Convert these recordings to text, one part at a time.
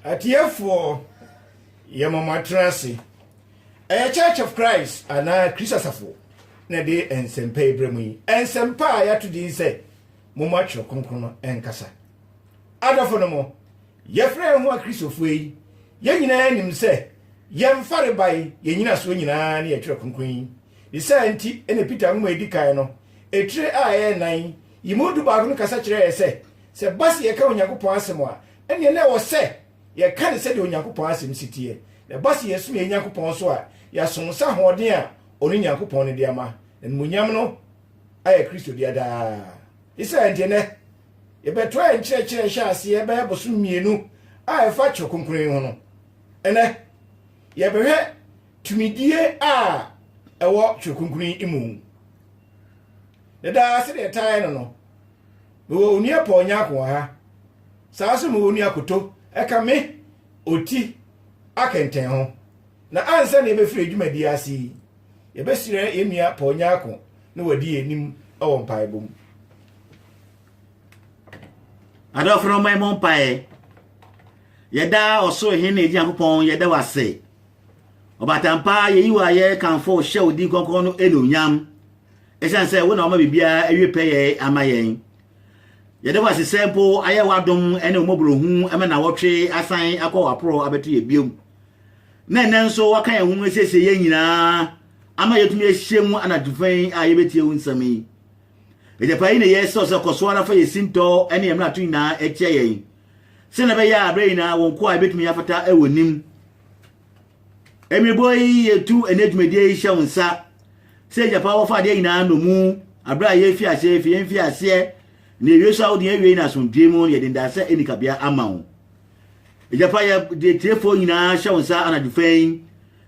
Atiefoɔ, yɛma mo atena ase. Ɛyɛ Church of Christ anaa Kristo Asafo na ɛde nsɛmpa yi brɛ mu yi. Nsɛmpa a yɛato din sɛ momma twerɛ kronkron no nkasa. Adɔfo no mo, yɛfrɛ yɛn ho Akristofoɔ yi, yɛn nyinaa nim sɛ yɛn farebae, yɛn nyinasoɔ nyinaa ne yɛn twerɛ kronkron yi. Ne saa nti na Peter nwoma a ɛdi kan no, etire a ɛyɛ nan yi mu du baako no kasa kyerɛ yɛn sɛ Sɛ ɛba sɛ yɛka Onyankopɔn asɛm a, ɛnneɛ na ɛwɔ sɛ yɛka no sɛdeɛ Onyankopɔn asɛm si teɛ. Na ɛba sɛ yɛsom yɛn Nyankopɔn nso a, yɛasom nsa ahoɔden a ɔno Nyankopɔn no de ama, na animuonyam no ayɛ Kristo dea daa. Yisrael nti ɛnnɛ, yɛbɛtoa yɛn nkyerɛkyerɛ a ɛhyɛɛ aseɛ bɛyɛ bosome mmienu a ɛfa Twerɛ Kronkron yi ho no. Ɛnnɛ, yɛbɛhwɛ tumidie a ɛwɔ Twerɛ Kronkron yi mu. Na daa sɛdeɛ yɛtaa yɛ no no, Mewɔ Onua Paul Nyarko wɔ ha. Saa ara nso mewɔ Onua Koto ka me oti akɛntɛn ho. Na ansa na yɛbɛfiri yɛn dwumadie ase yi, yɛbɛhyira yɛn nua Paul Nyarko na wadi yɛn anim wɔ mpaebɔ mu. Adɔfo no mma ɛmɔ mpaeɛ. Yɛda ɔsoro hene agye Nyankopɔn yɛda wo ase. Ɔbatampa yɛyi wo ayɛ kamfo hyɛ wo din kɔnkɔn no ɛnuonyam. Esiane sɛ wo na wama biribiara awie pɛyɛe ama yɛn, yɛda wo ase sɛ mpo ayɛ w'adom ne wo mmɔborɔhunu ma nnawɔtwe asan akɔ w'aporɔw abɛto yɛn bio, na ɛnnɛ nso woaka yɛn ho mu asiesie yɛn nyinaa ama yɛatumi ahyia mu anadwo fã yi a yɛbɛtie wo nsɛm yi. Agyapaa yi na yɛsrɛ wo sɛ kɔ so ara fa yɛn sintɔ ne yɛn mmarato nyinaa akyia yɛn, sɛnea ɛbɛyɛ a berɛ nyinaa wo nkoa yɛbɛtumi afata wɔ nim. Emi boyi etu ne dwumadie yi hyɛ wo nsa sɛ gya pa wɔfa adeɛ nyinaa nnomu aberɛ a yɛfi aseɛ fi yɛmfi aseɛ na yɛwie so a wode yɛwie na asomdwie mu na yɛde ndaasɛ ani kabea ama wo gya pa yɛ de tiefoɔ nyinaa hyɛ wo nsa anadwo fɛn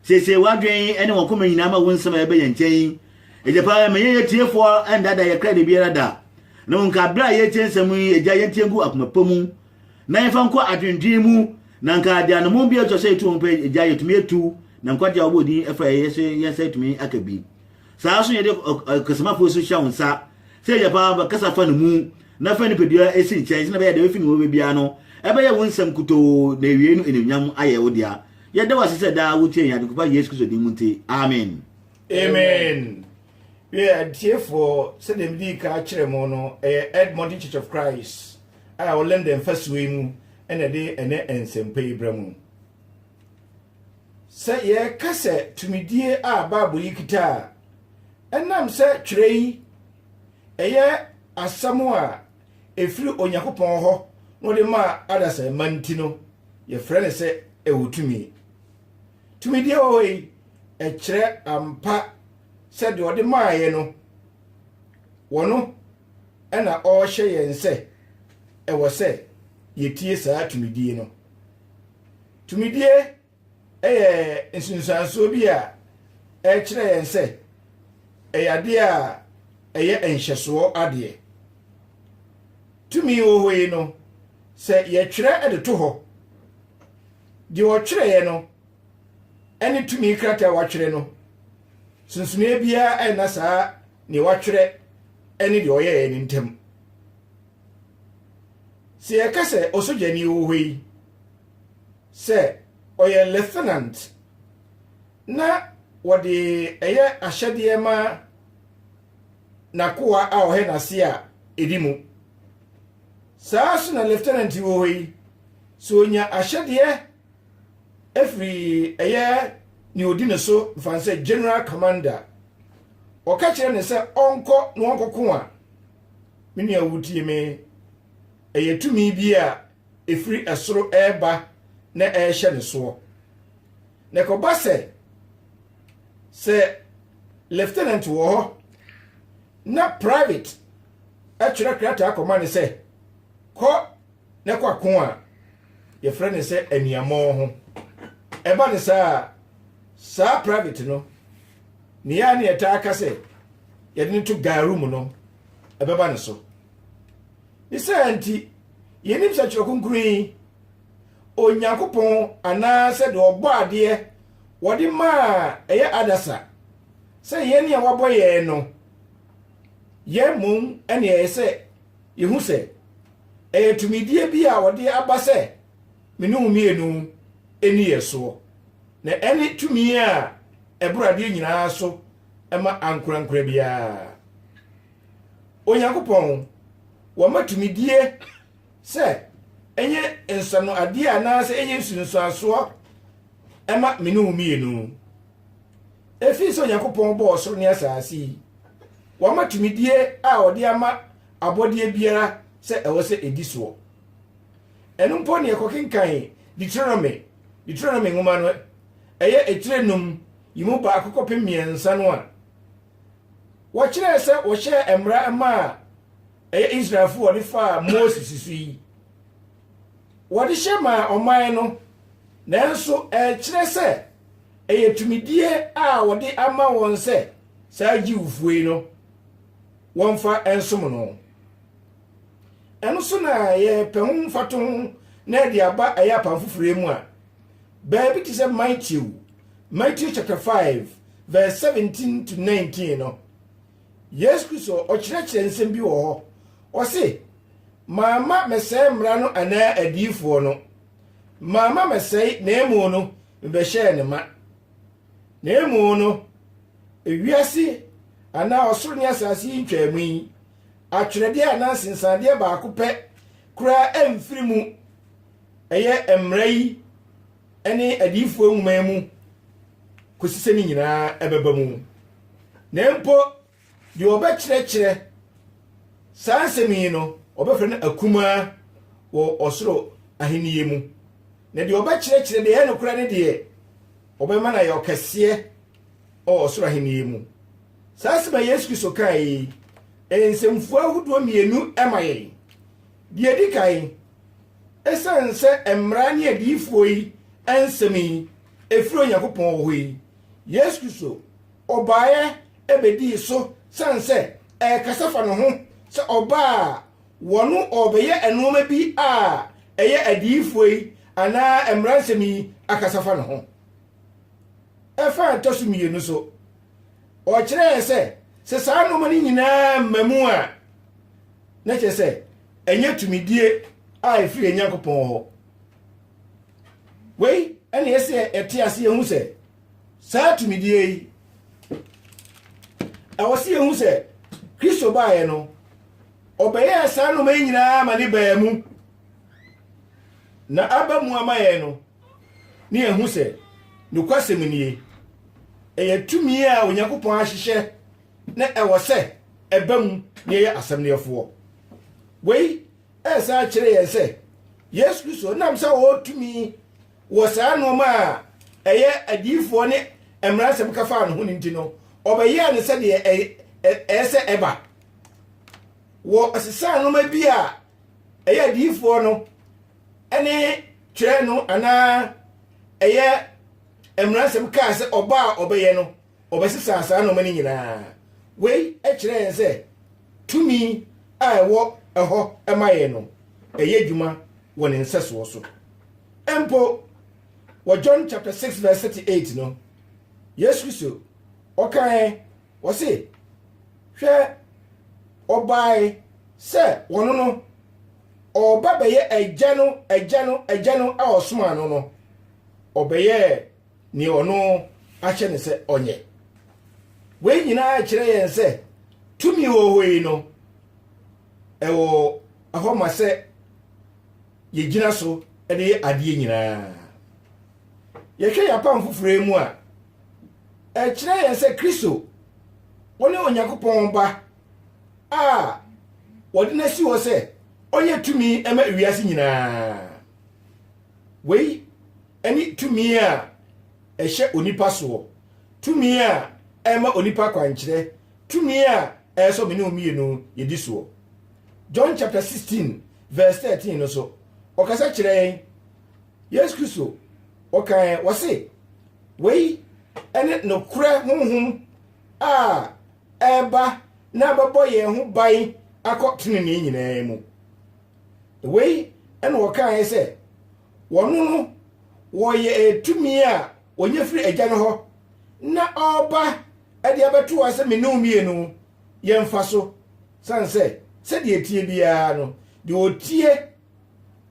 siesie w'adwen ne wɔn koma nyinaa ma wo nsɛm a yɛbɛ yɛn nkyɛn gya pa ma yɛn yɛ tiefoɔ ndada yɛkra da biara da na wo nka aberɛ a yɛtie nsɛm yi agya yɛntie ngu akoma pa mu na yɛmfa nkɔ adwendwen mu, na anka ade anammɔn bi a ɛtwa sɛ yɛtu wɔn pɛ agya yɛtumi atu, na nkwagye a wɔbɔ din fa yɛn so yɛn nsa atumi aka bi. Saa nso yɛde ɔkasamafo nso hyɛ wo nsa sɛ agya paa ba kasa fa no mu na fa nipadua esi nkyɛn sɛnea ɛbɛyɛ deɛ efi ne wɔ baabiara no ɛbɛyɛ wo nsɛm kutoo na ewiei no enuonyam ayɛ wo dea. Yɛda wo ase sɛ daa wotie yɛn adekopa Yesu Kristo din mu nti. Amen. Amen. Wiɛ, atiefoɔ, sɛdeɛ medii ka kyerɛ mo no, ɛyɛ Edmonton Church of Christ. a ɛwɔ London fasuo yi mu na ɛde ɛnnɛ nsɛmpa yi brɛ mo. Sɛ yɛreka sɛ tumidie a Bible yi kita a, ɛnam sɛ twerɛ yi ɛyɛ asɛm a ɛfiri Onyankopɔn hɔ na ɔde maa adasamma nti no, yɛfrɛ no sɛ ɛwɔ tumi. Tumidie wɔ hɔ yi, ɛkyerɛ ampa sɛ deɛ ɔde maaeɛ no, wɔno na ɔrehyɛ yɛn sɛ ɛwɔ sɛ yetie saa tumidie no. Tumidie yɛ nsunsuansoɔ bi a ɛkyerɛ yɛn sɛ ɛyɛ adeɛ a ɛyɛ nhyɛsoɔ adeɛ. Tumi wɔ hɔ yi no, sɛ yɛtwerɛ de to hɔ, deɛ ɔtwerɛeɛ no ne tumi krataa a watwerɛ no, sunsumee biara nna saa deɛ watwerɛ ne deɛ ɔyɛeɛ no ntam. Sɛ yɛka sɛ ɔsogyani wɔ hɔ yi sɛ ɔyɛ lieutenant na wɔde ɛyɛ ahyɛdeɛ ma n'akoa a ɔhɛ n'ase a ɛdi mu. Saa so na lieutenant wɔ hɔ yi sɛ ɔnya ahyɛdeɛ afiri ɛyɛ ne ɔdi ne so mfane sɛ general commander Wɔka kyerɛ no sɛ ɔnkɔ na ɔnkɔko a, me nua wotie me, ɛyɛ tumi bi a ɛfiri ɛsoro ɛreba na ɛrehyɛ ne soɔ. Na ɛkɔba sɛ, sɛ lieutenant wɔ hɔ na private atwerɛ krataa kɔma no sɛ kɔ na kɔ ako a, yɛfrɛ no sɛ aniammɔn ho. Ɛba no saa a, saa private no Nea a na yɛtaa ka sɛ yɛde no to garu mu no, ɛbɛba ne so. Ne saa nti, yɛnim sɛ Twerɛ Kronkron yi, Onyankopɔn anaasɛ deɛ ɔbɔ adeɛ wɔde maa ɛyɛ adasa sɛ yɛn a wabɔ yɛn no, yɛn mmom ɛne ɛyɛ sɛ yɛhu sɛ ɛyɛ tumidie bi a wɔde aba sɛ me ne wo mmienu nni yɛ soɔ, na ɛne tumi a ɛboro adeɛ nyinaa so ma ankorankora biara. Onyankopɔn, wama tumidie sɛ ɛnyɛ nsano adeɛ anaasɛ ɛnyɛ nsunsuansoɔ ɛma me ne wo mmienu. Ɛfiri sɛ Onyankopɔn bɔɔ soro ne asase yi, wama tumidie a ɔde ama abɔdeɛ biara sɛ ɛwɔ sɛ ɛdi soɔ. ɛno mpo ne yɛkɔkenkan Deuteronomy, Deuteronomy nwoma no, ɛyɛ etire num yi mu baako kɔpem mmiɛnsa no a, wɔkyerɛɛ sɛ wɔhyɛɛ mmara ma a ɛyɛ Israelfo wɔde faa Moses so yi. Wɔde hyɛ maa ɔman no, nanso ɛkyerɛ sɛ ɛyɛ tumidie a wɔde ama wɔn sɛ saa Jewfo yi no wɔmfa nsom no. Ɛno so na yɛpɛ ho mfatoho na ɛde aba ɛyɛ apam foforɔ yi mu a, baabi te sɛ Matthew, Matthew chapter 5 verse 17 to 19 no, Yesu Kristo ɔkyerɛkyerɛ nsɛm bi wɔ hɔ. Ɔse, Mamma mɛsɛe mmara no anaa adiyifoɔ no. Mamma mɛsɛe na emu no mebɛhyɛɛ ne ma. Na emu no, ewiase anaa ɔsoro ne asase yi ntwaamu yi, atwerɛdeɛ anaa nsensaneeɛ baako pɛ koraa amfiri mu, ɛyɛ mmara yi ne adiyifoɔ nwoma yi mu, kɔsi sɛ ne nyinaa ɛbɛba mu. Na mpo deɛ ɔbɛkyerɛkyerɛ saa nsɛm yi no, ɔbɛfrɛ no akumaa wɔ ɔsoro ahennie mu. Na deɛ ɔbɛkyerɛkyerɛ deɛ ɛyɛ nokorɛ no deɛ, ɔbɛma no ayɛ ɔkɛseɛ wɔ ɔsoro ahennie mu. Saa asɛm a Yesu Kristo kae yi, ɛyɛ nsɛmfua ahodoɔ mmienu ma yɛn. Deɛ ɛdi kan, ɛsiane sɛ mmara ne adiyifoɔ yi nsɛm yi ɛfiri Onyankopɔn hɔ yi, Yesu Kristo ɔbaeɛ ɛbɛdii so sane sɛ ɛrekasa fa ne ho sɛ ɔbaa a wɔno ɔrebɛyɛ nnoɔma bi a ɛyɛ adiyifoɔ yi anaa mmara nsɛm yi akasa fa ne ho. Ɛfa a ɛtɔ so mmienu so, ɔkyerɛ yɛn sɛ sɛ saa nneɛma no nyinaa mma mu a na kyerɛ sɛ ɛnyɛ tumidie a ɛfiri nyankopɔn hɔ wei ɛne ɛsɛ ɛte ase yɛhu sɛ saa tumidie yi ɛwɔ sɛ yɛhu sɛ kristo baeɛ no ɔbɛyɛɛ saa nneɛma yi nyinaa ma ne baa mu na aba mu ama yɛn no ne yɛahu sɛ nokwasɛm nie, ɛyɛ tumi a Onyankopɔn ahyehyɛ na ɛwɔ sɛ ɛba mu na yɛyɛ asɛm no yɛfoɔ. Wei ɛsan akyerɛ yɛn sɛ Yesu Kristo nam sɛ ɔwɔ tumi wɔ saa nnoɔma a ɛyɛ adiyifoɔ ne mmaransɛm ka faa ne ho no nti no, ɔbɛyɛɛ no sɛdeɛ ɛyɛ sɛ ɛba. Wɔ ɔsesaa nnoɔma bi a ɛyɛ adiyifoɔ no ne twerɛ no anaa ɛyɛ mmaransɛm kaa sɛ ɔbɔ a ɔbɛyɛ no ɔbɛsesa saa nnoɔma no nyinaa. Wei kyerɛ yɛn sɛ tumi a ɛwɔ ɛhɔ ma yɛn no ɛyɛ adwuma wɔ ne nsɛsoɔ so. Mpo wɔ John chapter 6 verse 38 no, Yesu Kristo ɔkae ɔse, hwɛ ɔbae sɛ wɔno no ɔreba bɛyɛ agya no agya no agya no a ɔsomaa no no ɔbɛyɛɛ nea ɔno ahyɛ no sɛ ɔnyɛ wei nyinaa kyerɛ yɛn sɛ tumi wɔwɔ yi no ɛwɔ ɛhɔ ma sɛ yɛgyina so de yɛ adeɛ nyinaa yɛhwɛ yɛn apam foforɔ mu a ɛkyerɛ yɛn sɛ kristo wɔne onyankopɔn ba a wɔde no asi hɔ sɛ ɔnyɛ tumi ma wiase nyinaa. Wei ne tumi a ɛhyɛ onipa soɔ, tumi a ɛma onipa kwankyerɛ, tumi a ɛyɛ sɛ mene mmienu yɛdi soɔ. John chapter 16 verse 13 no so, ɔkasa kyerɛ yɛn. Yesu Kristo, ɔkae, wɔse, wei ne nokorɛ honhom a reba na abɛbɔ yɛn ho ban akɔ tenenee nyinaa mu. Wei na wɔkaeɛ sɛ, Wɔno no wɔyɛ tumi a wɔnya firi Agya no hɔ, na ɔreba de abɛto hɔ sɛ me ne wo mmienu yɛmfa so, sane sɛ sɛdeɛ ɛteɛ biara no, deɛ ɔtie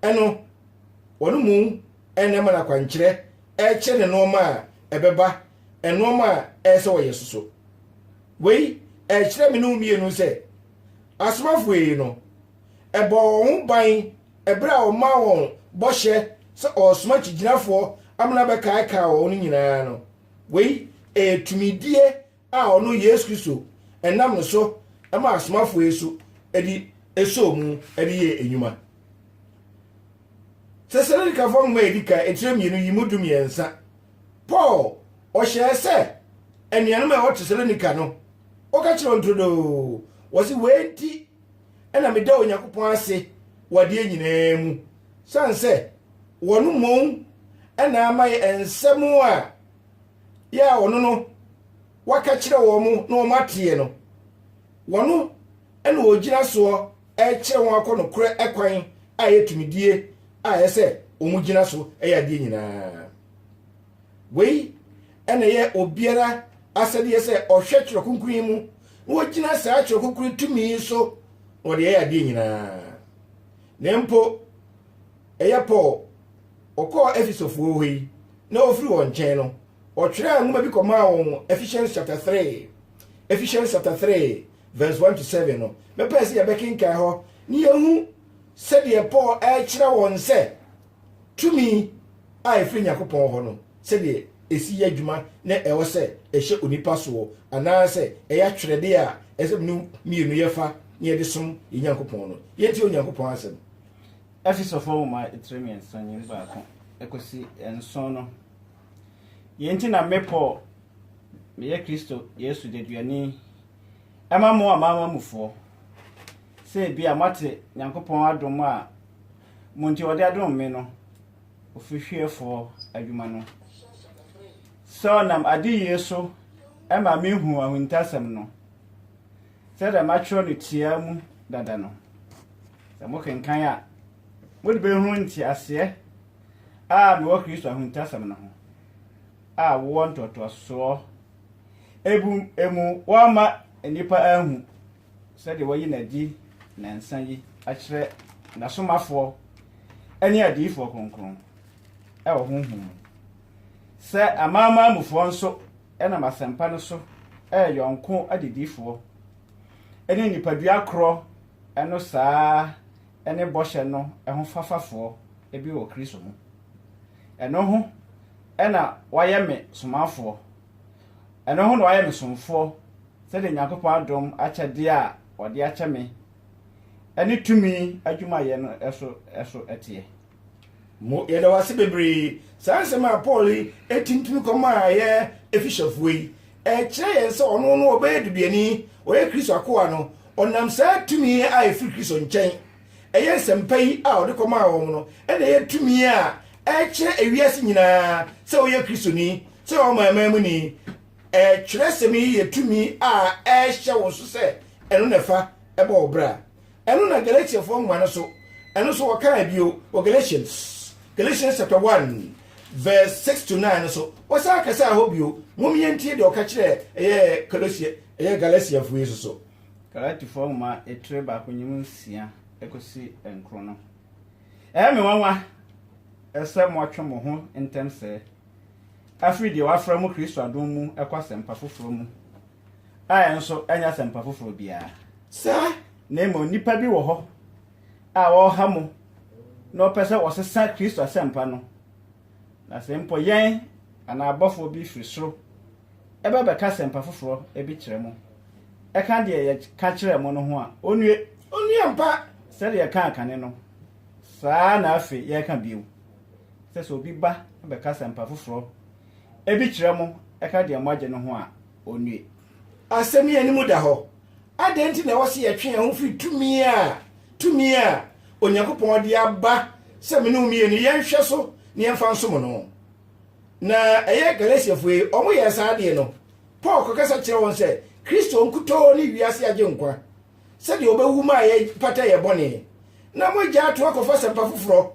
no, wɔn mu na ɛma no akwankyerɛ kyerɛ ne nneɛma a ɛbɛba, nneɛma a ɛyɛ sɛ wɔyɛ so so. Wei ɛkyerɛ me ne wo mmienu sɛ asomafo yi no, ɛbɔ wɔn ho ban ɛberɛ a wɔmaa wɔn bɔhyɛ sɛ ɔresoma kyigyinafoɔ amena bɛkaekaa wɔn no nyinaa no. Wei ɛyɛ tumidie a ɔno Yesu Kristo nam no so maa asomafoɔ yi so de esoo mu de yɛɛ nnwuma. Tesalonikafoɔ nwoma a ɛdi kan etire mmienu yi mu du mmiɛnsa, Paul ɔhyɛɛ sɛ anuanom a ɛwɔ Tesalonika no, ɔka kyerɛ wɔn turodoo, wɔsi wei nti ɛna meda Onyankopɔn ase wɔ adeɛ nyinaa mu, sane sɛ wɔn mmom ɛna ama yɛ nsɛm a yɛ a ɔno no waka kyerɛ wɔn mo na wɔn ateɛ no wɔno ɛna ɔgyina soɔ ɛkyerɛ wɔn akɔ nokorɛ ɛkwan a ɛyɛ tumidie a ɛyɛ sɛ wɔn gyina so ɛyɛ adeɛ nyinaa wei ɛna ɛyɛ obiara asɛdeɛ sɛ ɔhwɛ twerɛ kunkun mu na wɔgyina saa twerɛ kunkun tumi yi so na wɔde ɛyɛ adeɛ nyinaa na mpo ɛyɛ paul ɔkɔɔ Efesofoɔ hɔ yi, na ɔfiri wɔn nkyɛn no, ɔtwerɛɛ nwoma bi kɔmaa wɔn, Ephesians chapter 3, Ephesians chapter 3 verse 1 to 7 no, mɛpɛɛ sɛ yɛbɛkenkan hɔ ne yɛhu sɛdeɛ Paul ɛrekyerɛ wɔn sɛ tumi a ɛfiri Nyankopɔn hɔ no sɛdeɛ ɛsi yɛ adwuma na ɛwɔ sɛ ɛhyɛ onipa soɔ anaasɛ ɛyɛ atwerɛdeɛ a ɛsɛ no mmienu yɛfa na yɛde som yɛ Nyankopɔn no yɛntie Onyankopɔn asɛm Efesofo Nwoma etire mmiɛnsa nye mu baako ekosi nson no. Yei nti na me Paul, meyɛ Kristo Yesu deduani ma mo amanamanmufoɔ, sɛ ebia moate Nyankopɔn adom a mo nti ɔde adom me no ofirihwiefoɔ adwuma no, sɛ ɔnam adeyie so ma mehuu ahintasɛm no. Sɛdeɛ matwerɛ no tiaa mu dada no, sɛ mokenkan a, mode bɛhunu nteaseɛ a mewɔ Kristo ahuntasɛm no ho, a wowɔ ntoatoasoɔ ebum emu woamma nnipa anhu sɛdeɛ wayi no adi nnansa yi akyerɛ n'asomafoɔ ne adiyifoɔ kronkron wɔ honhom mu, sɛ amanamanmufoɔ nso nam asɛmpa no so yɛ yɔnko adedifoɔ ne nipadua korɔ no saa ara ne bɔhyɛ no ho fafafoɔ bi wɔ Kristo mu. Ɛno ho na wɔayɛ me somafoɔ, ɛno ho na wɔayɛ me somfoɔ sɛdeɛ Nyankopɔn adom akyɛdeɛ a ɔde akyɛ me ne tumi adwumayɛ no so teɛ. Mo, yɛda wo ase bebree. Saa nsɛm a Paul yi tintim kɔmaa yɛ Efesofoɔ yi, ɛkyerɛ yɛn sɛ ɔno no ɔbɛyɛ deduani, ɔyɛ Kristo akoa no, ɔnam saa tumi a ɛfiri Kristo nkyɛn, ɛyɛ nsɛmpa yi a ɔde kɔmaa wɔn no, ɛna ɛyɛ tumi a ɛkyerɛ ewiase nyinaa sɛ woyɛ Kristoni, sɛ woyɛ ɔmanman mu ni. Ɛɛ, twerɛsɛm yi yɛ tumi a ɛhyɛ wo so sɛ ɛno na ɛfa bɔ wo bra. Ɛno na Galatiafoɔ nwoma no so, ɛno nso wɔkaa bio wɔ Galatians, Galatians chapter 1 verse 6 to 9 no so. Wɔsan kasaa hɔ bio. Mom yɛntie deɛ ɔka kyerɛ ɛyɛ Kolosia, ɛyɛ Galatiafoɔ yi nso so. Galatifoɔ nwoma etire baako nyim nsia ekosi nkron no. Ɛyɛ me nwanwa sɛ moatwe mo ho ntɛm sɛɛ afiri deɛ wɔafrɛ mo Kristo adom mu ɛkɔ asɛmpa foforɔ mu. a ɛnso ɛnyɛ asɛmpa foforɔ biara. Saa na mmom nnipa bi wɔ hɔ a wɔreha mo na wɔpɛ sɛ wɔsesa Kristo asɛmpa no, na sɛ mpo yɛn anaa abɔfoɔ bi firi soro ba bɛka asɛmpa foforɔ bi kyerɛ mo, ɛka deɛ yɛka kyerɛɛ mo no ho a, ɔnnue. Ɔnnue ampa! Sɛdeɛ yɛkaa kane no, saa ara na afei yɛreka bio, sɛ sɛ obi ba bɛka asɛmpa foforɔ Ebi kyerɛ mo, ɛka deɛ moagye no ho a, ɔnnue. Asɛm yi anim da hɔ. Adɛn nti na ɛwɔ sɛ yɛtwe yɛn ho firi tumi a tumi a Onyankopɔn de aba sɛ me ne wo mmie no, yɛnhwɛ so na yɛmfa nsom no? Na ɛyɛ Galatiafoɔ yi, wɔyɛɛ saa adeɛ no. Paul kɔkasa kyerɛɛ wɔn sɛ Kristo nkutoo ne wiase agyenkwa, sɛdeɛ ɔbɛwu maa yɛpata yɛn bɔne, na moagyaa to akɔfa asɛmpa foforɔ,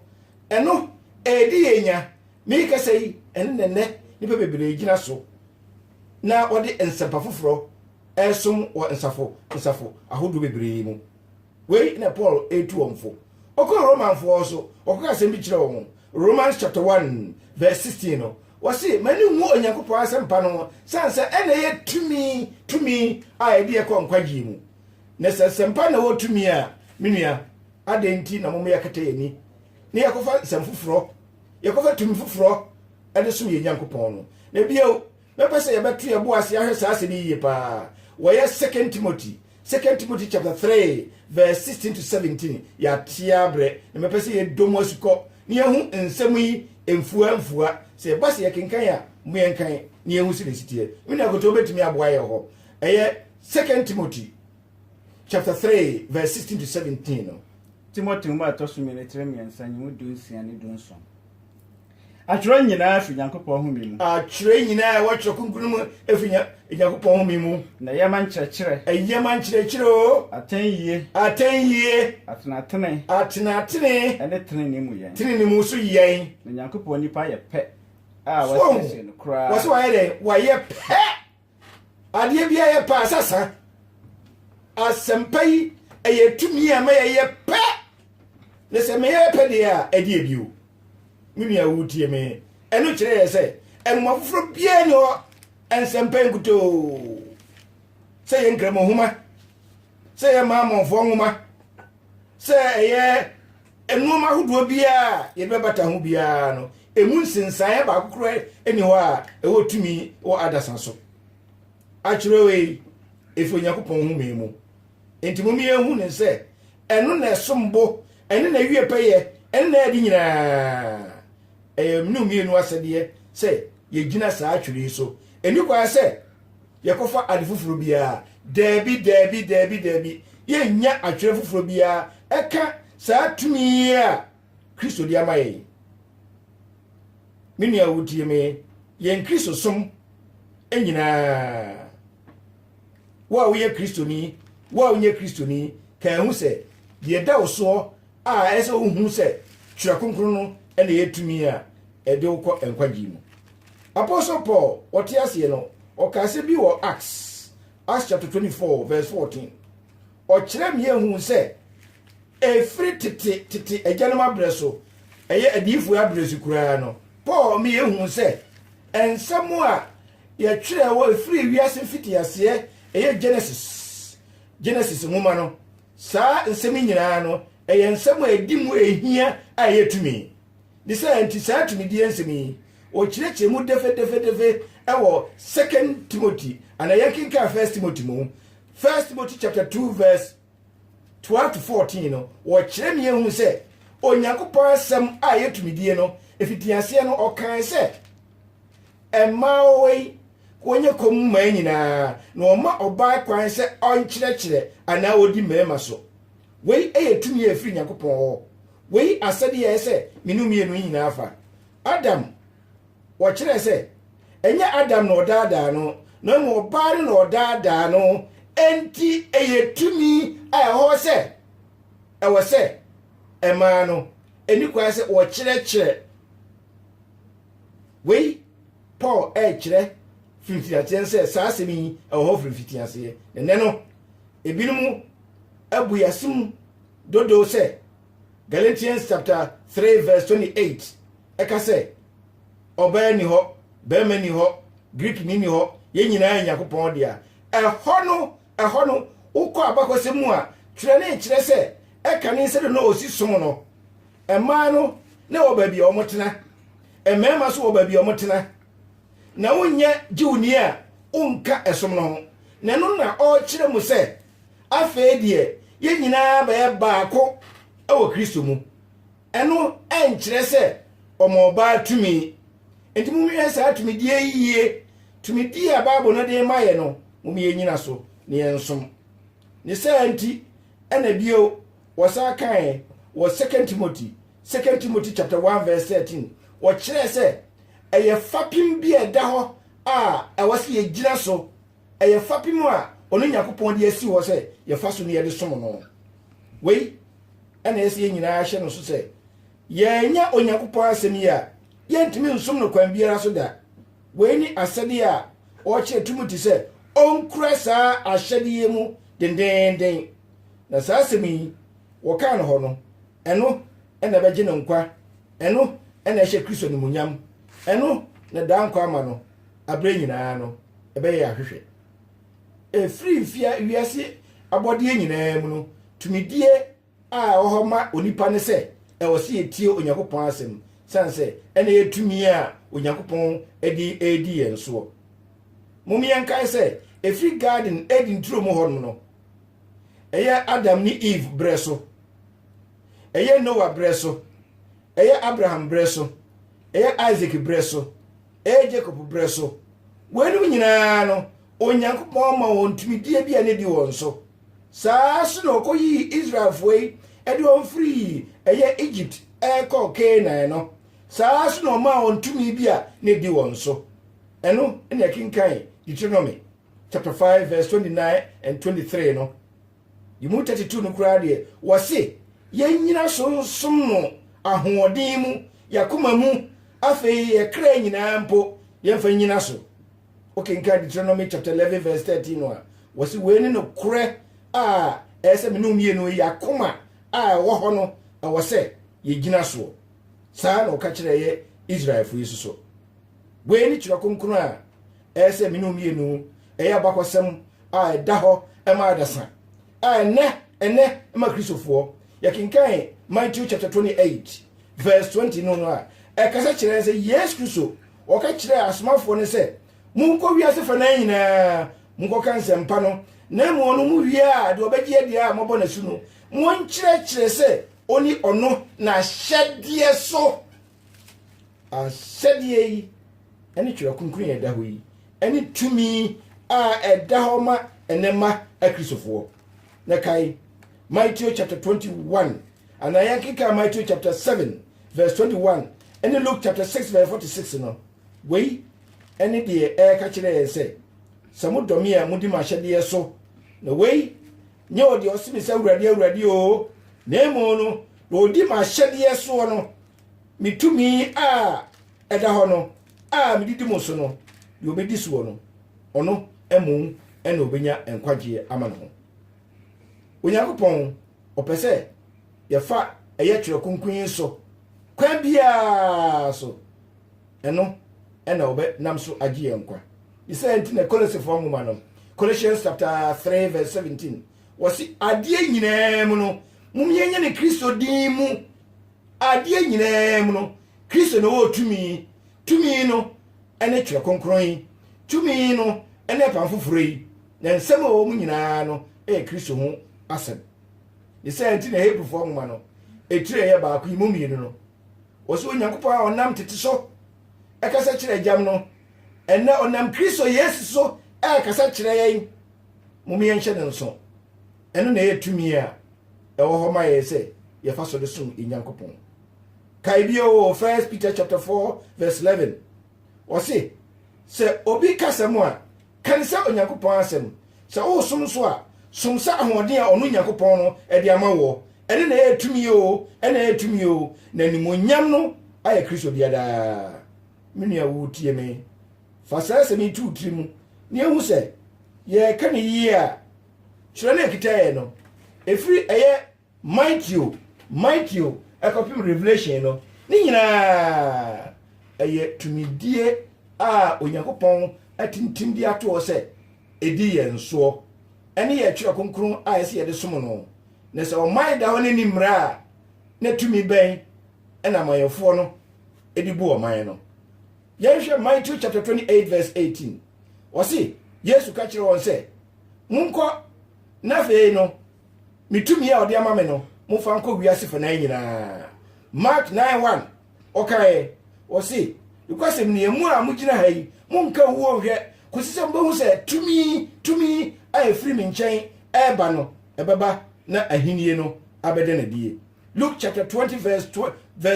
ɛno, ɛredi yɛn nya, Merekasa yi, ɛno na nnɛ nnipa bebree gyina so na wɔde nsɛmpa foforɔ resom wɔ nsafo nsafo ahodoɔ bebree mu. Wei na Paul retu wɔn fo. Ɔkɔɔ Romanfoɔ hɔ so, ɔkɔka asɛm bi kyerɛɛ wɔn. Romans chapter 1 verse 16 no, wɔse, M'ani nwu Onyankopɔn asɛmpa no ho, sane sɛ ɛna ɛyɛ tumi, tumi a ɛde yɛkɔ nkwagyeɛ mu. Na sɛ nsɛmpa na wɔ tumi a, me nua, adɛn nti na mommyɛkata yɛn ani na yɛakɔfa nsɛm foforɔ yɛkɔfa tumi foforɔ de som yɛn Nyankopɔn no. Na bio, mɛpɛ sɛ yɛbɛto yɛn bo ase ahwɛ saa asɛm yi yie paa. Wɔyɛ Second Timothy, Second Timothy chapter 3 verse 16 to 17 yɛatea berɛ, na mɛpɛ sɛ yɛdɔ mu asukɔ na yɛhu nsɛm yi mfua mfua. Sɛ yɛba sɛ yɛkenkan a, mo yɛnkan na yɛhu sɛdeɛ ɛsiteɛ. Me nua Koto bɛtumi aboa yɛn hɔ. Ɛyɛ Second Timothy. chapter three verse sixteen to seventeen no. Timothy nwoma a ɛtɔ so mmienu tire mmiɛnsa nyi mu du nsia ne du nson. Atwerɛ nyinaa fi Nyankopɔn home mu. Atwerɛ nyinaa ɛwɔ Twerɛ Kronkron mu efi Nyankopɔn home mu. Na ɛyɛ ma nkyerɛkyerɛ. Ɛyɛ ma nkyerɛkyerɛ o. Atɛn yie. Atɛn yie. Atenatene. Atenatene. Ɛne tenenee mu yɛn. Tenenee mu so yɛn. Na Nyankopɔn nipa yɛ pɛ a wɔasiesie no koraa. Wɔsɛ wɔayɛ dɛ wɔayɛ pɛ. adeɛ biara yɛ pɛ a sasa asɛmpa yi ɛyɛ tumi a ma yɛyɛ pɛ na sɛ meyɛ pɛ deɛ a ɛdeɛ bio me nua wotie me ɛno kyerɛ yɛ sɛ ɛnoma foforɔ biara ne hɔ nsɛmpa nkutoo sɛ yɛ nkramohoma sɛ yɛ maamɔnfoɔ nwoma sɛ ɛyɛ nnoɔma ahodoɔ biara a yɛde bɛbata ho biara no ɛmu nsensaeɛ baako korɔ ɛni hɔ a ɛwɔ tumi wɔ adasa so akyerɛ wei ɛfiri onyankopɔn ho mii mu nti mom yɛhu ne sɛ ɛno na ɛsom bo ɛne na ɛwie pɛyɛ ɛne na ɛde nyinaa ɛyɛ ne mmienu asɛdeɛ sɛ yɛgyina saa atwere yi so ɛni kwaa sɛ yɛkɔfa ade foforɔ biara. Daabi, daabi, daabi, daabi. Yɛnnya atwerɛ foforɔ biara ɛka saa tumi a Kristo de ama yɛn. Me nua wotie me, yɛn Kristo som nyinaa wo a woyɛ kristoni wo a wonyɛ kristoni ka ɛho sɛ deɛ ɛda wo soɔ A Ɛyɛ sɛ wohu sɛ Twerɛ Kronkron no na ɛyɛ tumi a ɛde wo kɔ nkwagyeɛ mu. Apostle Paul, ɔte aseɛ no, ɔkaa asɛm bi wɔ Acts, Acts chapter 24 verse 14. Ɔkyerɛɛ me yɛ huu sɛ ɛfiri tete tete agyanom abrɛ so, ɛyɛ adiyifoɔ abrɛ so koraa no, Paul me yɛ huu sɛ nsɛm a yɛtwerɛ wɔ ɛfiri wiase mfitiaseɛ, ɛyɛ Genesis, Genesis nwoma no, Saa nsɛm yi nyinaa no, ɛyɛ nsɛm a ɛdi mu a ɛhia a ɛyɛ tumi. Ne saa nti, saa tumidie nsɛm yi, wɔkyerɛkyerɛ mu dɛfɛdɛfɛdɛfɛ wɔ Second Timothy, anaa yɛnkenkan First Timothy mu. First Timothy chapter 2 verse 12 to 14 no, wɔkyerɛ ne yɛhu sɛ Onyankopɔn asɛm a ɛyɛ tumidie no, ɛfitiaseɛ no, ɔkae sɛ, Mmaa wɔn yi, wɔnyɛ komm mmaa nyinaa, na wɔma ɔbaa kwan sɛ ɔnkyerɛkyerɛ anaa ɔdi mmarima so. Wei yɛ tumi a ɛfiri Nyankopɔn hɔ. Wei asɛdeɛ ɛyɛ sɛ me ne wo mmienu yi nyinaa fa. Adam, wɔkyerɛɛ sɛ, ɛnyɛ Adam na ɔdaadaa no, na mmom ɔbaa no na ɔdaadaa no, enti ɛyɛ tumi a ɛwɔ hɔ sɛ ɛwɔ sɛ mmaa no ɛni kwan sɛ wɔkyerɛkyerɛ Wei Paul rekyerɛ firi mfitiaseɛ no sɛ saa asɛm yi wɔ hɔ firi mfitiaseɛ. Ɛnnɛ no, ebinom abu yɛn ase mu dodo sɛ Galatians chapter 3 verse 28 ɛka sɛ ɔbaa ni hɔ, barima ni hɔ, Greekni ni hɔ, yɛn nyinaa yɛ Nyankopɔn dea. Ɛhɔ no Ɛhɔ no, wokɔ abakɔsɛm mu a, twerɛ ne nkyerɛ sɛ ɛka ne nsɛdɔ na ɔsi som no. Mmaa no na ɛwɔ baabi a wɔtena, mmarima nso wɔ baabi a wɔtena. Na wonyɛ Jewni a, wonka ɛsom no ho. Na ɛno na ɔrekyerɛ mu sɛ, Afei deɛ yɛn nyinaa bɛyɛ baako wɔ Kristo mu. Ɛno nkyerɛ sɛ ɔma ɔbaa tumi. Enti monhwehwɛ saa tumidie yi yie. Tumidie a Bible no de rema yɛn no, mom yɛnnyina so na yɛnsom. Ne saa nti, ɛna bio, wɔsan kaeɛ wɔ 2 Timothy, 2 Timothy chapter 1 verse 13, wɔkyerɛɛ sɛ ɛyɛ fapem bi a ɛda hɔ a ɛwɔ sɛ yɛgyina so ɛyɛ fapem a ɔne Nyankopɔn de asi hɔ sɛ yɛfa so ne yɛde som no. Wei ɛna ɛsɛ yɛn nyinaa hyɛ no so sɛ yɛanya Onyankopɔn asɛm yi a yɛntumi nsom no kwan biara so da. Wei ne asɛdeɛ a ɔkyerɛ Timothy sɛ ɔnkura saa ahyɛdeɛ mu dendeenden. Na saa asɛm yi wɔkaa no hɔ no, ɛno ɛna ɛbɛgye no nkwa, ɛno ɛna ɛhyɛ Kristo animuonyam, ɛno na daa nkwa ama no. aberɛ nyinaa no ɛbɛyɛ yɛn ahwehwɛ. Ɛfiri mfea wiase abɔdeɛ nyinaa mu no, tumidie a ɛwɔ hɔ ma onipa ne sɛ ɛwɔ sɛ yɛtie Onyankopɔn asɛm, sane sɛ ɛna yɛ tumi a Onyankopɔn de redi yɛn soɔ. Mom yɛnkae sɛ, ɛfiri garden Eden turo mu hɔnom no, ɛyɛ Adam ne Eve berɛ so, ɛyɛ Noah berɛ so, ɛyɛ Abraham berɛ so, ɛyɛ Isaac berɛ so, Ɛyɛ Jacob berɛ so. Weinom nyinaa no, Onyankopɔn ma wɔn tumidie bi a na ɛdi wɔn so. Saa ara nso na ɔkɔyii Israelfoɔ yi de wɔn firii ɛyɛ Egypt rekɔ Kanaan no, saa ara nso na ɔmaa wɔn tumi bi a na ɛdi wɔn so. Ɛno na ɛkenkan Deuteronomy chapter 5 verse 29 and 23 no. Yi mu 32 no koraa deɛ, wɔse yɛnnyina so nsom no ahoɔden mu, y'akoma mu, afei yɛ kra nyinaa mpo, yɛmfa nnyina so. Wokenkan Deuteronomy chapter 11 verse 13 no a, wɔse wei ne nokorɛ a ɛyɛ sɛ me ne mmienu yi akoma a ɛwɔ hɔ no ɛwɔ sɛ yɛgyina soɔ. Saa na ɔka kyerɛ yɛ Israelfo yi soso. Wei ne twerɛ kronkron a Ɛyɛ sɛ me ne wɔn mmienu yɛ abakɔsɛm a ɛda hɔ ma adasa. A ɛnɛ ɛnɛ ma Kristofoɔ. Yɛkenkan Matthew chapter 28 verse 20 no no a, ɛkasa kyerɛ sɛ Yesu Kristo ɔka kyerɛɛ asomafoɔ no sɛ monkɔ wiase fa naa nyinaa monkɔka nsɛmpa no na mmom ɔno mu wie a deɛ ɔbɛgye adeɛ a mɔbɔ n'asu no monkyerɛkyerɛ sɛ ɔni ɔno n'ahyɛdeɛ so Ahyɛdeɛ yi ne Twerɛ Kronkron a ɛda hɔ yi ne tumi a ɛda hɔ ma ɛnɛ mma Akristofoɔ. Na kae, Matthew chapter 21, anaa yɛnkenkan Matthew chapter 7 verse 21 ne Luke chapter 6 verse 46 no, wei ne deɛ ɛreka kyerɛ yɛn sɛ, sɛ modɔ me a modi m'ahyɛdeɛ so, na wei nyɛ wɔ deɛ ɔse me sɛ awurade awurade o na mmom no na ɔdi m'ahyɛdeɛ soɔ no me tumi a ɛda hɔ no a medidi mu so no deɛ ɔbɛdi soɔ no ɔno mmom ɛna ɔbɛnya nkwagyeɛ ama ne ho onyankopɔn ɔpɛ sɛ yɛfa ɛyɛ twerɛ kronkron yi so kwan biara so ɛno na wɔbɛnam so agye yɛn nkwa. Ne saa nti na Kolosefo nwoma no, Colossians chapter 3 verse 17, wɔsi adeɛ nyinaa mu no, mom yɛnyɛ ne Kristo din mu. Adeɛ nyinaa mu no, Kristo na ɔwɔ tumi. Tumi no ne twerɛ kronkron yi. Tumi no ne apam foforɔ yi. Na nsɛm a ɛwɔ mu nyinaa no yɛ Kristo ho asɛm. Ne saa nti na Hebrifoɔ nwoma no, ɛtiri ɛyɛ baako yi mu mmienu no, Ɔsoro Nyankopɔn a ɔnam tete so ɛkasa kyerɛ agyam no, ɛnɛ ɔnam Kristo Yesu so ɛrekasa kyerɛ yɛn. Mom yɛnhyɛ no nso. Ɛno na ɛyɛ tumi a ɛwɔ hɔ ma yɛn sɛ yɛfa so de som yɛn Nyankopɔn. Kae bio wɔ 1 Peter chapter 4 verse 11. Ɔse, sɛ obi kasa mu a, Kan sɛ Onyankopɔn Asɛm. Sɛ woresom nso a, som sɛ ahoɔden a ɔno Nyankopɔn no de ama woɔ. Ɛno na ɛyɛ tumi oo, ɛna ɛyɛ tumi oo, na animuonyam no ayɛ Kristo dea daa. Me nua a woretie me, fa saa asɛm yi to wo tiri mu na ɛhu sɛ yɛreka no yie a, kyerɛ na ɛkita yɛn no, ɛfiri ɛyɛ Mateo, Mateo, kɔpem Revelation no, ne nyinaa yɛ tumidie a Onyankopɔn atintim de ato hɔ sɛ ɛdi yɛn soɔ. Ɛne yɛn twerɛ kronkron a ɛsɛ yɛde som no. Na sɛ ɔman da hɔ no nni mmara a, na tumi bɛn na amanyɔfoɔ no de bu ɔman no? Yɛnhwɛ Mateo chapter 28 verse 18. Ɔse, Yesu ka kyerɛ wɔn sɛ, Monkɔ, na afei no Ne tumi a ɔde ama me no, momfa nkɔ wiase fanan nyinaa. Mark 9 1 ɔkaeɛ, ɔse, Nokwasɛm nie, mo a mogyina ha yi, monka owuo nhwɛ, kɔsi sɛ mobɛhu sɛ tumi, tumi a ɛfiri me nkyɛn ɛreba no, ɛbɛba na ahennie no abɛda no adie. Luke chapter 20 verse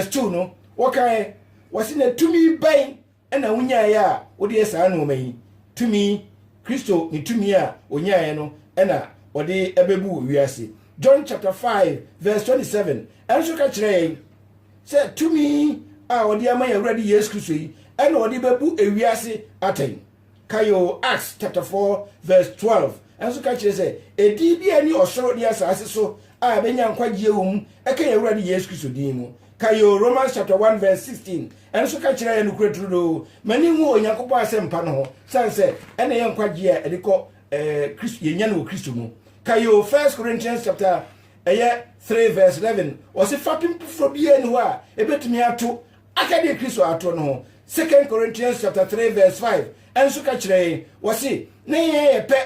2 no, wɔkaeɛ, wɔse, na tumi bɛn na wonyaeɛ a wode yɛ saa nnoɔma yi, tumi, Kristo ne tumi a ɔnyaeɛ no na ɔde bɛbu wiase. John chapter 5 verse 27 nso ka kyerɛ yɛn sɛ tumi a ɔde ama yɛn Awurade Yesu Kristo yi na ɔde bɛbu wiase atɛn. Kayo Acts chapter 4 verse 12 nso ka kyerɛ sɛ ɛdin bi a ɛne ɔsoro ne asaase so a ɛbɛnya nkwagyeɛ wɔ mu ɛka yɛn Awurade Yesu Kristo din mu. Kae o, Romans chapter one verse sixteen ɛno nso ka kyerɛ yɛn nokorɛ turodoo, M'ani nnwu Onyankopɔn asɛmpa no ho, sane sɛ ɛna yɛ nkwagyeɛ a ɛde kɔ Kristo, yɛnya no wɔ Kristo mu. Kae o, First Corinthians chapter ɛyɛ three verse eleven ɔse fapem foforɔ biara nni hɔ a ɛbɛtumi ato aka deɛ Kristo atoɔ no ho. Second Corinthians chapter three verse five ɛnso ka kyerɛ yɛn, wɔse na yɛn yɛ pɛ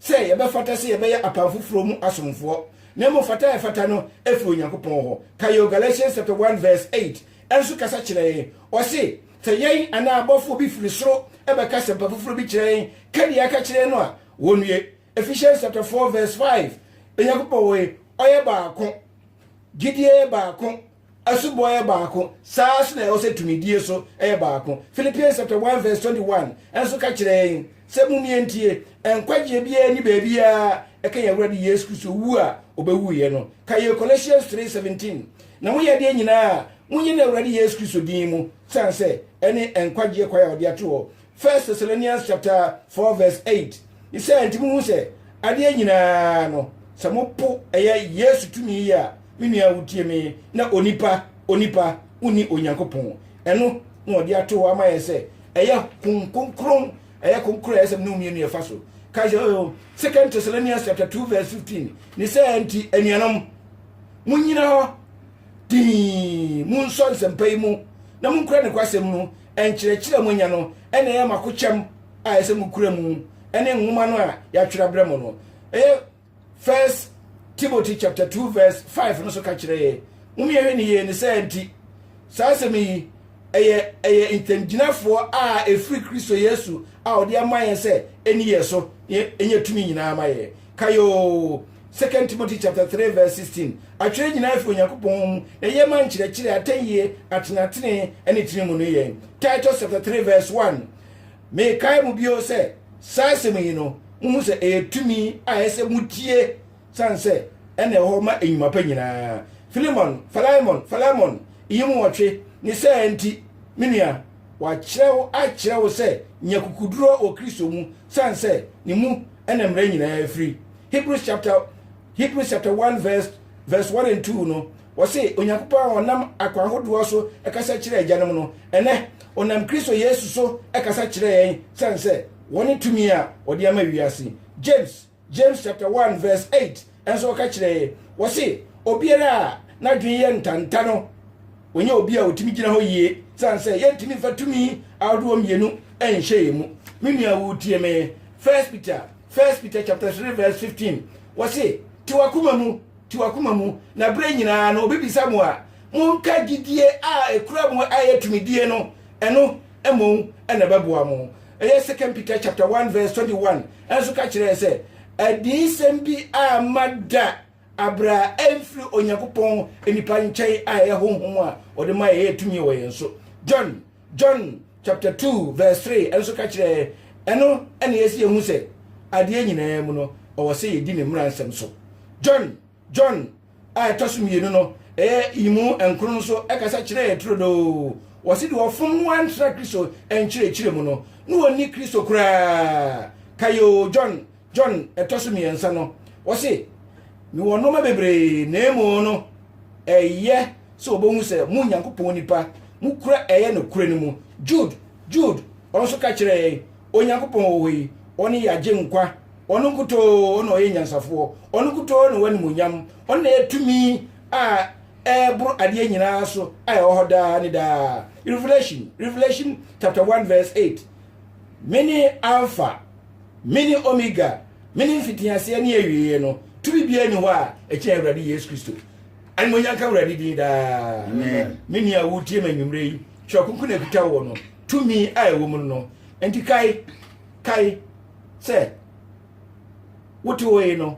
sɛ yɛbɛfata sɛ yɛbɛyɛ apam foforɔ mu asomfoɔ, na mmom fata a ɛfata no firi Onyankopɔn hɔ. Ka yɛn o Galatians chapter 1 verse 8 nso kasa kyerɛ yɛn. Ɔse, sɛ yɛn anaa abɔfoɔ bi firi soro bɛka asɛmpa foforɔ bi kyerɛ yɛn ka deɛ aka kyerɛ yɛn no a, wɔnnue. Ephesians chapter 4 verse 5 Onyankopɔn wɔ he? Ɔyɛ baako. Gyidie yɛ baako. Asubɔ yɛ baako, saa ara nso na ɛwɔ sɛ tumidie nso yɛ baako. Philippians chapter 1 verse 21 nso ka kyerɛ yɛn sɛ mummie ntie, nkwagyeɛ biara nni baabi a ɛka yɛn Awurade Yesu Kristo wu a ɔbɛwuiɛ no. Ka yɛn Colossians 3:17 Na moyɛ adeɛ nyinaa a, monyɛ no Awurade Yesu Kristo din mu, sane sɛ ɛne nkwagyeɛ kwan a ɔde ato hɔ First Thessalonians chapter four verse eight. Ne sɛ nti mo hu sɛ adeɛ nyinaa no sɛ mo po ɛyɛ Yesu tumi yi a me nua wotie me na onipa onipa wonni Onyankopɔn ɛno na ɔde ato hɔ ama yɛ sɛ ɛyɛ konkron ɛyɛ konkron ɛyɛ sɛ mo ne mmienu yɛfa so kae sɛ oh, Second Thessalonians chapter two verse fifteen ne sɛ nti anuanom monyina hɔ dii monsɔ nsɛmpa yi mu na monkura ne kwasɛm no nkyerɛkyerɛ a moanya no na ɛyɛ makokyɛm a ɛsɛ mokura mu ne nwoma no a yɛatwerɛ abrɛ mo no ɛyɛ first timothy chapter 2 verse 5 no so ka kyerɛ yɛ mom yɛhwɛ ne yie ne sɛ nti saa asɛm yi ɛyɛ ɛyɛ ntɛmgyinafoɔ a ɛfiri kristo yesu a ɔde ama yɛn sɛ ɛni yɛ so ɛnyɛ tumi nyinaa ma yɛ Kae oo, 2 Timothy chapter 3 verse 16, Atwerɛ nyinaa fi Onyankopɔn hɔ mu, na ɛyɛ ma nkyerɛkyerɛ, atɛnyie, atenatenee, ne tene mu no yɛn. Titus chapter 3 verse 1, Mekae mo bio sɛ, saa asɛm yi no, mohu sɛ ɛyɛ tumi a ɛsɛ motie, sane sɛ ɛna ɛhɔ ma nnwuma pa nyinaa. Philemon, Phalaemon, Phalaemon, yi mu wɔtwe, ne saa nti, me nua, wɔakyerɛ wo akyerɛ wo sɛ nya kukuduro wɔ Kristo mu, sane sɛ ne mu ɛna mmara nyinaa firi hebrews chapter hebrews chapter one verse verse one and two no wɔse onyankopɔn a ɔnam akwan hodoɔ so ɛkasa kyerɛ agyanom no ɛnɛ ɔnam kristo yesu so ɛkasa kyerɛ yɛn sɛn sɛ wɔne tumi a ɔde ama wiase james james chapter one verse eight Nso ɔka kyerɛ yɛ wɔse obiara a n'adwene yɛ ntanta no wɔnyɛ obi a ɔtumi gyina hɔ yie sane sɛ yɛntumi mfa tumi ahodoɔ mmienu nhyɛ yɛ mu me nua wotie me first peter first peter chapter 3 verse 15 wɔse te wakoma mu te wakoma mu na berɛ nyinaa no obibisa mo a monka gyidie a ɛkura mo ayɛ tumidie no ɛno mmom na ɛbɛboa mo. Ɛyɛ Second Peter chapter 1 verse 21 nso ka kyerɛ yɛn sɛ adiyisɛm bi a ma da abere a ɛmfiri Onyankopɔn nnipa nkyɛn a ɛyɛ honhom a ɔde ma yɛyɛ tumi wɔ yɛn so. John John chapter 2 verse 3 nso ka kyerɛ yɛn ɛno ɛna yɛsi yɛn hu sɛ adeɛ nyinaa mu no ɔwɔ sɛ yɛdi ne mmara nsɛm so. John John a ɛtɔ so mmienu no ɛyɛ yimu nkron nso ɛkasa kyerɛ yɛ turodoo wɔ sɛdeɛ ɔfom ho antra Kristo nkyerɛkyerɛ mu no ne wɔnni Kristo koraa kayoo John John ɛtɔ so mmiɛnsa no wɔse mewɔ nnoɔma bebree na emu no ɛyɛ sɛ wɔbɛhu sɛ mo Nyankopɔn nipa mokura ɛyɛ nokorɛ no mu Jude Jude ɔno nso ka kyerɛ yɛn Onyankopɔn wɔ hɔ yi, ɔno yɛ agyenkwa. Ɔno nkutoo na ɔyɛ nyansafoɔ. Ɔno nkutoo na w'animuonyam. Ɔno na yɛ tumi a ɛboro adeɛ nyinaa so a ɛwɔ hɔ daa ne daa. Revelation, Revelation chapter 1 verse 8. Mene Alpha, mene Omega, mene mfitiaseɛ ne awieɛ no. Tumi biara ni hɔ a ɛkyɛn Awurade Yesu Kristo. Animuonyam ka Awurade din daa. Amen. Me nua a wotie me anwummerɛ yi, twerɛ kronkron na ɛkuta wɔ no. Tumi a ɛwɔ mu no nti kae, kae sɛ wotewee no,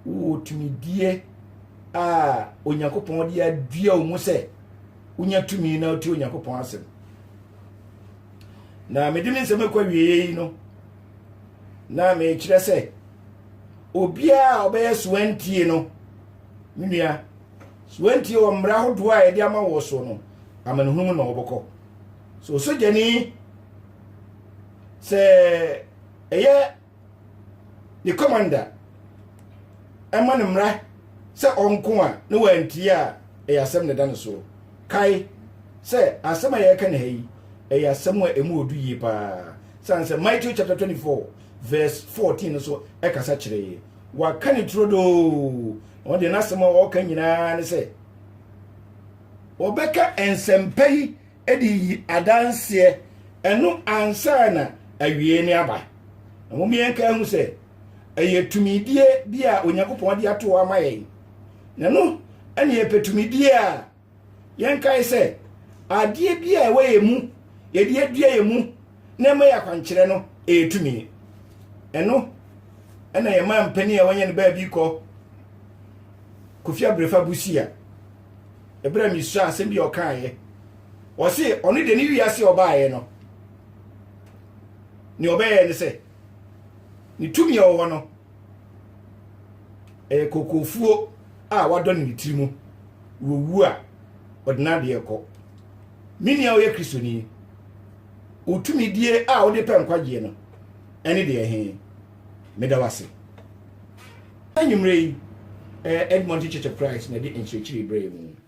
wowɔ tumidie a Onyankopɔn de adua wo mu sɛ wonya tumi na wotie Onyankopɔn asɛm. Na mede me nsɛm akɔ awieeɛ yi no, na mekyerɛ sɛ obiara a ɔbɛyɛ soantie no, me nua, So woantie wɔ mmara ahodoɔ a yɛde ama wɔ soɔ no, amanehunu mu na wɔbɛkɔ. So osogyani sɛ ɛyɛ ne kɔmanda ɛma ne mmara sɛ ɔnko a na wantie a ɛyɛ asɛm na ɛda no soɔ. Kae sɛ asɛm a yɛreka ne ha yi ɛyɛ asɛm a ɛmu ɔdu yie paa sane sɛ Matthew chapter 24 verse 14 no so ɛkasa kyerɛ yɛ. waka ne turodoo ɔno deɛ n'asɛm a ɔreka nyinaa ne sɛ wɔbɛka nsɛmpa yi de yi adanseɛ ɛno ansa na awie ne aba na wɔn yɛn ka ho sɛ ɛyɛ tumidie bi a onyankopɔn de ato ama yɛn na no ɛne yɛpɛ tumidie a Yɛnkae sɛ, adeɛ bi a ɛwɔ yɛn mu, yɛde adua yɛn mu na ɛma yɛ akwankyerɛ no, ɛyɛ tumi. Ɛno ɛna yɛma mpanin a wɔnyɛ no baabi kɔ Kofi Abrefa Busia. Ɛberɛ a mesua asɛm bi a ɔkaeɛ, ɔse ɔno deɛ ne wiase a ɔbaeɛ no, nea ɔbɛyɛ ne sɛ ne tumi a ɔwɔ no ɛyɛ kokofuo a wadɔ no ne tiri mu wɔwu a ɔde n'adeɛ kɔ me nua ɔyɛ kristoni wotumidie a wode pɛ nkwagyeɛ no ɛne deɛ he meda wase anwummerɛ yi eh, edmonton church of christ na ɛde nkyerɛkyerɛ berɛ mu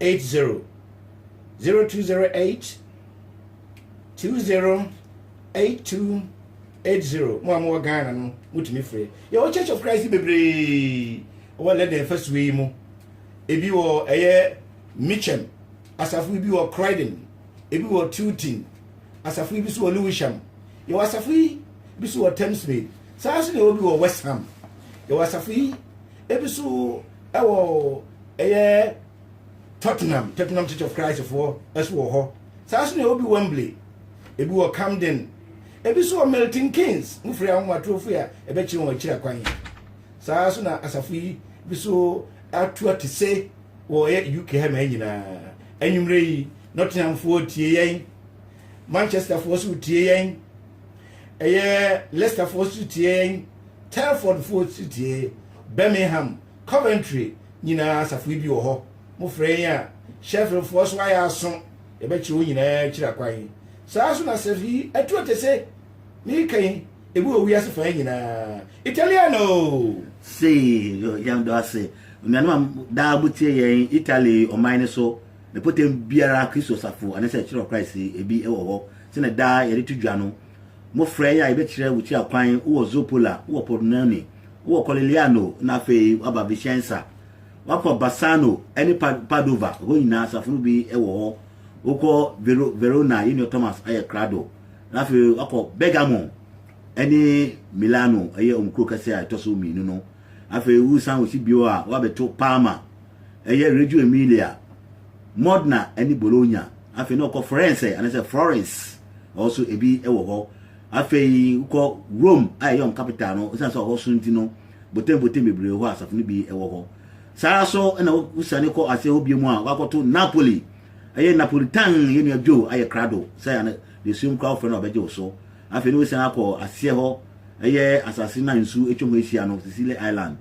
80 0208 208280 mo a mowɔ ghana no motumi frɛ yɛwɔ church of christ bebree wɔ lɛdɛ afasuo yi mu ebi wɔ ɛyɛ mitchem asafo bi wɔ croydon ebi wɔ tilton asafo bi so wɔ lewisham yɛwɔ asafo yi bi so wɔ thamesmead saa nso na ɛwɔ bi wɔ west ham yɛwɔ asafo yi ebi nso wɔ ɛyɛ tottenham tottenham church of christ foɔ nso wɔ hɔ saa nso na ɛwɔ bi wembley ebi wɔ camden ebi nso wɔ milton keynes mo firi ahomatorofo a ɛbɛkyerɛ wɔn akyiri akwan saa nso na asafo yi bi nso ato ate se wɔ ɛyɛ uk ha ma nyinaa anwummerɛ yi nottinghamfoɔ tie yɛn manchesterfoɔ nso tie yɛn ɛyɛ leicesterfoɔ nso tie yɛn Telfordfoɔ Tsetie, Birmingham, Coventry nyinaa asafo yi bi wɔ hɔ. Mo frɛ yɛn a, Sheffieldfoɔ so ayɛ aso, yɛbɛkyerɛ wɔn nyinaa akyiri akwan. Saa ara nso na asafo yi atu ɔtese, mereka yi, ebi wɔ wiase fã nyinaa. Italiano! Sei nso yɛn dɔ ase onuanom a daa mo tie yɛn Italy ɔman no so. Mpɔtam biara Kristo asafo anaa sɛ Church of Christ bi wɔ hɔ. Sɛnea daa yɛde to dwa no, Mmofra yi a yɛbɛkyerɛ wo kyia kwan, wowɔ Zoppola, wowɔ Pordenone, wowɔ Collegliano, na afei woaba Vicenza. Woakɔ Bassano ne Padova, hɔ nyinaa asafo no bi wɔ hɔ. Wokɔ Vero, Verona, yɛn nua Thomas ayɛ krado. Na afei woakɔ Bergamo ne Milano, ɛyɛ wɔn kuro kɛse a ɛtɔ so mmienu no. Afei wosan wɔ si bio a, woabɛto Parma, ɛyɛ Reggio Emilia. Modena ne Bologna. Afei na ɔkɔ Frɛnsɛ anaasɛ Florence ɔhɔ so ebi wɔ hɔ. Afei wokɔ Rome a ɛyɛ wɔn capital no ɛsiane sɛ ɔhɔ so nti no botembotem bebree hɔ a asafo no bi wɔ hɔ. Saa ara so na wosiane kɔ aseɛ hɔ bio mu a wakɔto Napoli ɛyɛ Napolitan yɛ nua Joe ayɛ krado sɛ ana deɛ suom koraa wofrɛ no a ɔbɛgye wo so. Afei na wosiane akɔ aseɛ hɔ ɛyɛ asase no a nsuo atwa ho ahyia no Sicily Island.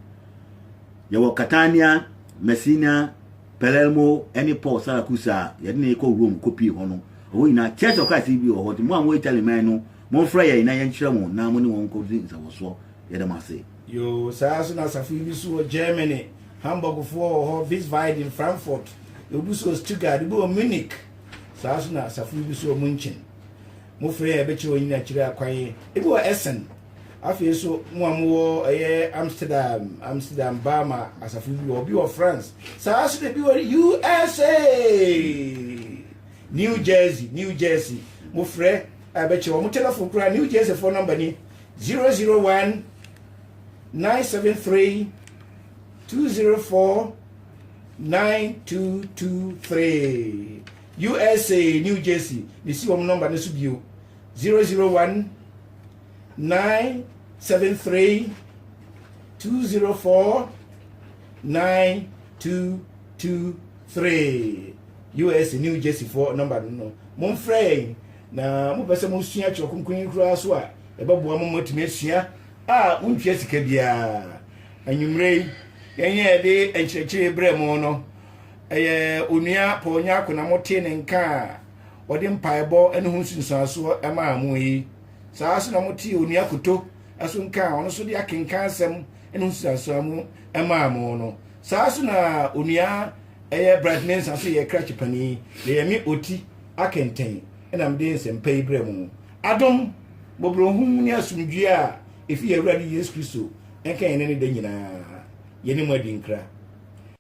Yɛwɔ Catania, Messina, Palermo ne Paul Saracusa a yɛde no rekɔ Rome kɔpie hɔ no, ɛhɔ nyinaa Church of Christ bi wɔ hɔ, nti mo a mowɔ Italy man no, momfrɛ yɛn na yɛnkyerɛ mo na mo ne wɔn nkɔdi nsawɔsoɔ. Yɛda mo ase. Yoo, saa ara nso na asafo yi bi nso wɔ Germany, Hamburgfoɔ wɔ hɔ, Wiesbaden, Frankfurt, ebi nso wɔ Stuttgart, ebi wɔ Munich, saa ara nso na asafo yi bi nso wɔ München. Mofrɛ yɛn a, yɛbɛkyerɛ wɔn nyina akyire akwan, ebi wɔ Essen. Afei nso, mo a mowɔ ɛyɛ Amsterdam, Amsterdam Bama asafo bi wɔ, obi wɔ France, saa nso na ebi wɔ USA, New Jersey, New Jersey. Mofrɛ a ɛbɛkyɛ wɔn telefon koraa. New Jersey fo nɔmba ni 001 973 204 9223 USA, New Jersey. Mesi wɔn nɔmba no so bio 001 nine seven three two zero four nine two two three us new jersey foɔ nɔmba no no momfrɛ yɛn na mopɛ sɛ mosua twerɛ kronkron yi koraa so a ɛbɛboa mo moatumi asua a wontua sika biara anwummerɛ yi yɛnyɛ yɛde nkyerɛkyerɛ berɛ mu no ɛyɛ onua paul nyako na motee ne nka a wɔde mpaebɔ ne ho nsunsuansoɔ maa mo yi. Saa ara nso na motee Onua Koto ɛso nka a ɔno nso de akenkan asɛm ne ho nsunsuansoɔ mu maa mo no. Saa ara nso na Onua ɛyɛ Bright Mensah nso yɛ krakye panin na ɛyɛ me ɔti akɛntɛn na mede nsɛmpa yi brɛ mo. Adom, mmɔborɔhunu ne asomdwoeɛ a ɛfiri yɛn Awurade Yesu Kristo nka yɛn ne no da nyinaa. Yɛne mo adi nkra.